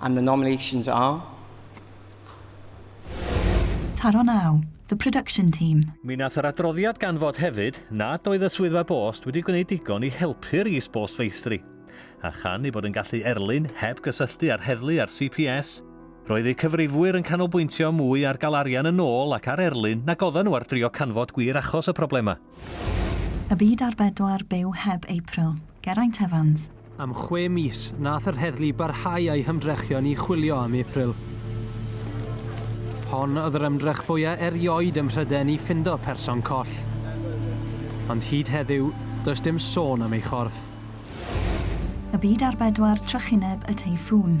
And the nominations are. Taro Nau, The Production Team. Mi wnaeth yr adroddiad ganfod hefyd nad oedd y Swyddfa Bost wedi gwneud digon i helpu'r is-bost feistri. A chan ei bod yn gallu erlyn heb gysylltu â'r heddlu a'r CPS, roedd eu cyfrifwyr yn canolbwyntio mwy ar gael arian yn ôl ac ar erlyn nag oedden nhw ar drio canfod gwir achos y problemau. Y byd ar bedwar, byw heb April. Geraint Evans. Am chwe mis, nath yr heddlu barhau â'i hymdrechion i chwilio am April. Hon oedd yr ymdrech fwya erioed ym Mhryden i ffindo person coll. Ond hyd heddiw, does dim sôn am ei chorff. Y byd ar bedwar, trychineb y teiffŵn.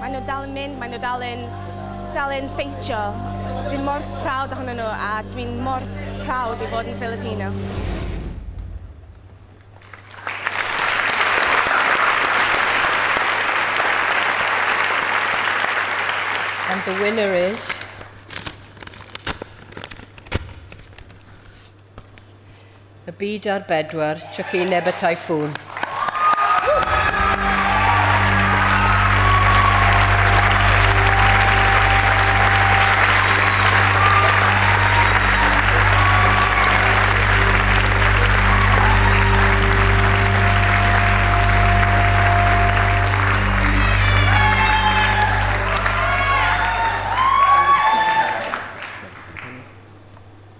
Mae nhw dal yn mynd, mae nhw dal yn, dal yn ffeitio. Dwi'n mor proud ohonyn nhw a dwi'n mor proud i fod yn Filipino. And the winner is... y byd ar bedwar trychineb y Typhoon.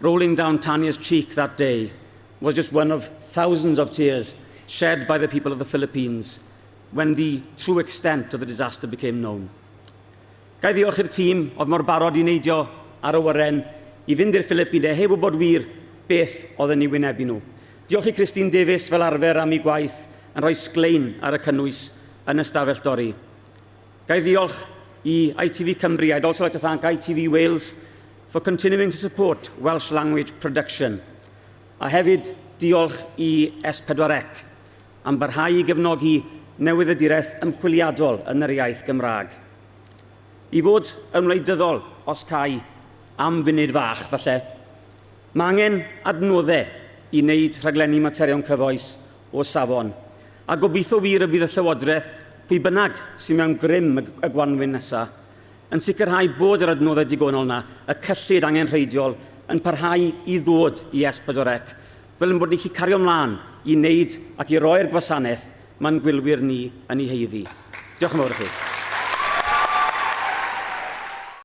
Rolling down Tania's cheek that day was just one of thousands of tears shed by the people of the Philippines when the true extent of the disaster became known. Ga i ddiolch i'r tîm oedd mor barod i neidio ar y wyren i fynd i'r Philippines heb wybod wir beth oedd yn ei wynebu nhw. Diolch i Christine Davies fel arfer am ei gwaith yn rhoi sglein ar y cynnwys yn y stafell dorri. Ga i ddiolch i ITV Cymru, I'd also like to thank ITV Wales for continuing to support Welsh language production. A hefyd diolch i S4C am barhau i gefnogi newyddiaduraeth ymchwiliadol yn yr iaith Gymraeg. I fod yn wleidyddol, os cai am funud fach falle, mae angen adnoddau i wneud rhaglenni materion cyfoes o safon, a gobeithio wir y bydd y Llywodraeth, pwy bynnag sydd mewn grym y gwanwyn nesaf, yn sicrhau bod yr adnoddau digonol yna, y cyllid angenrheidiol, yn parhau i ddod i S4C, fel ein bod ni'n gallu cario mlaen i wneud ac i roi'r gwasanaeth mae'n gwylwyr ni yn ei haeddu. Diolch yn fawr i chi.